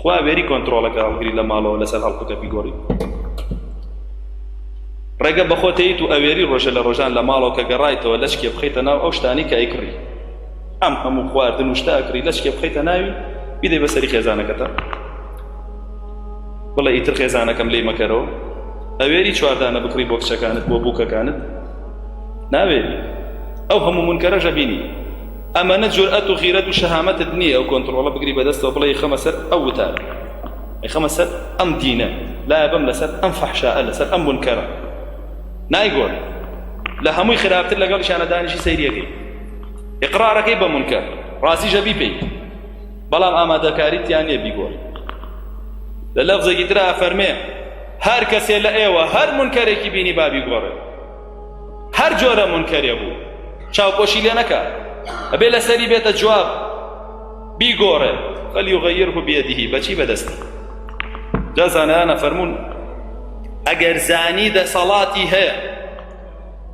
تخوا وێری کۆنترۆڵەکە هەڵگری لە ماڵەوە لەسەر هەڵکوتە بیگۆڕی ڕێگە بەخۆتەیت و ئەوێری ڕۆژە لە ڕۆژان لە ماڵەوە کە گەڕایتەوە لەچکێ بخیتە ناو ئەو شتانی کە ئەیکڕی ئەم هەموو خواردن و شتا ئەکڕی لەچکێ بخیتە ناوی بیدەی بەسەری خێزانەکەتە بڵێ ئیتر خێزانەکەم لی مەکەرەوە ئەوێری چواردانە بکڕی بۆ کچەکانت بۆ بووکەکانت ناوێری ئەو هەموو منکەرەژە بینی ئەمەنە جورئەت و غیرەت و شەهامەتت نییە ئەو کۆنتڕۆڵە بگری بەدەستەوە بڵێ خەمە سەر ئەو وتار خەمە سەر ئەم دینە لایە بم لەسەر ئەم فەحشائە لەسەر ئەم بنکەرە نایگۆن لە هەمووی خراپتر لەگەڵ شانەدانیشی سەیریەکەی ئقرارەکەی بە منکە ڕازی ژەبی پێی بەڵام ئامادەکاریتیان نیە بیگۆن لە لەفزێکی ترا فەرمێ هەر کەسێ لە ئێوە هەر منکەرێکی بینی بابی گۆڕێ هەر جۆرە منکەرێ بوو چاوپۆشی لێ نەکە ئەبێ لەسەری بێتە جواب بیگۆڕێ فەلیغەیره بێدیهی بەچی بەدەستی جا زانایانە فەرمونون ئەگەر زانی دەسەڵاتی هەیە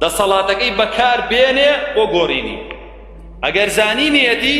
دەسەڵاتەکەی بەکار بێنێ بۆ گۆڕینی ئەگەر زانی نیەتی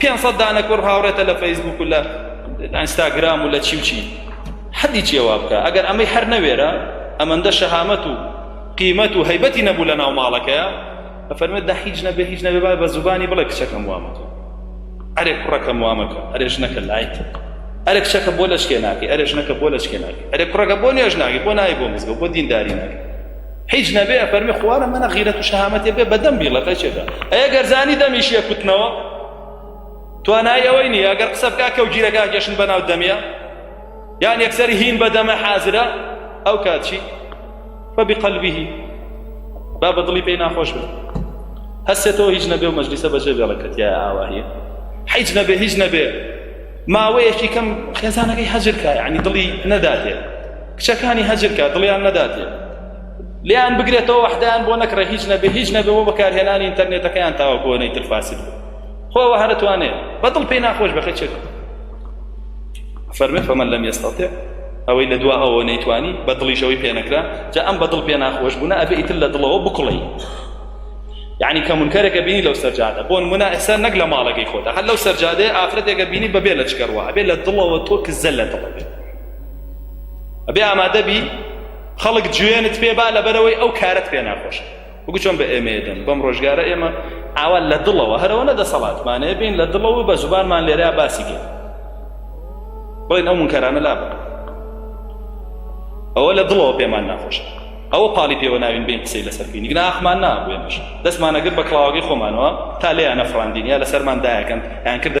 پێنج سەد دانە کوڕ هاوڕێتە لە فەیسبوک و لە ئەنستاگرام و لە چی و چی حەدی چێوا بکە ئەگەر ئەمەی هەر نەوێرە ئەمەندە شەهامەت و قیمەت و هەیبەتی نەبوو لە ناو ماڵەکەیە ئەفەرمێت دە هیچ نەبێ هیچ نەبێ با بە زوبانی بڵێ کچەکەم وامەکە ئەرێ کوڕەکەم وامەکە ئەرێ ژنەکە لایت ئەرێ کچەکە بۆ لەچکێ ناکەی ئەرێ ژنەکە بۆ لەچکێ ناکەی ئەرێ کوڕەکە بۆ نوێژ ناکەی بۆ نای بۆ مزگە بۆ دینداری ناکەی هیچ نەبێ فەرمی خوارە منە غیرەت و شەهامەتێ بێ بەدەم بیڵەکە چێتە ئەیە گەرزانی دەمیش یە کوتنەوە توانای ئەوەی نیە ئەگەر قسە بکا کە و گیرەکە گەشن بەناو دەمیە یان یەکسەری هین بەدەمە حازرە ئەو کاتچی فەبی قەلبیهی با بە دڵی پێی ناخۆش بێت هەستێتەوە هیچ نەبێ و مەجلیسە بەجێ بێڵەکەتیایە ئاواهەیە حیچ نەبێ هیچ نەبێ ماوەیەکی کەم خێزانەکەی هەجرکە یعنی دڵی نەداتێ کچەکانی هەجرکە دڵیان نەداتێ لیان بگرێتەوە وەحدایان بۆ نەکڕێ هیچ نەبێ هیچ نەبێ بۆ بەکارهێنانی ئینتەرنێتەکەیان تاوەکۆنەی ترفاسد خۆەوە هەرتوانێت بەدڵ پێی ناخۆش بەخە چێت فەرمێت فەمەن لەم ئێستاتێ ئەوەی لە دوا ئەوە نەیتوانی بە دڵیشەوەی پێنەکرا جا ئەم بە دڵ پێ ناخۆش بوون ئەبێ ئیتر لە دڵەوە بکڵی یعنی کە منکەرێکە بینی لەو سەرجادە بۆ نمونە ئێستا نەک لە ماڵەکەی خۆتە هەر لەو سەرجادەیە ئافرەتێکە بینی بەبێ لە چکەڕوە ئەبێ لە دڵەوە تۆ کزە لە دڵ بێت ئەبێ ئامادەبی خەڵک جوێنت پێ با لەبەرەوەی ئەو کارت پێ ناخۆش وەکو چۆن بە ئێمە دەن بەم ڕۆژگارە ئێمە ئاوا لە دڵەوە هەرەوە نە دەسەڵاتمانێ بین لە دڵەوە بە زوبانمان لێرە باسی کرد بڵێن ئەو منکەرانە لا بکە ئەوە لە دڵەوە پێمان ناخۆشە ئەوە پاڵی پێوە ناوین بێین قسەی لەسەر بکەین گنا ئەخمان نابوێنش دەستمان ئەگرت بە کڵاوەکەی خۆمانەوە تا لێیان نەفڕاندین یا لەسەرمان دایەکەن یان کردە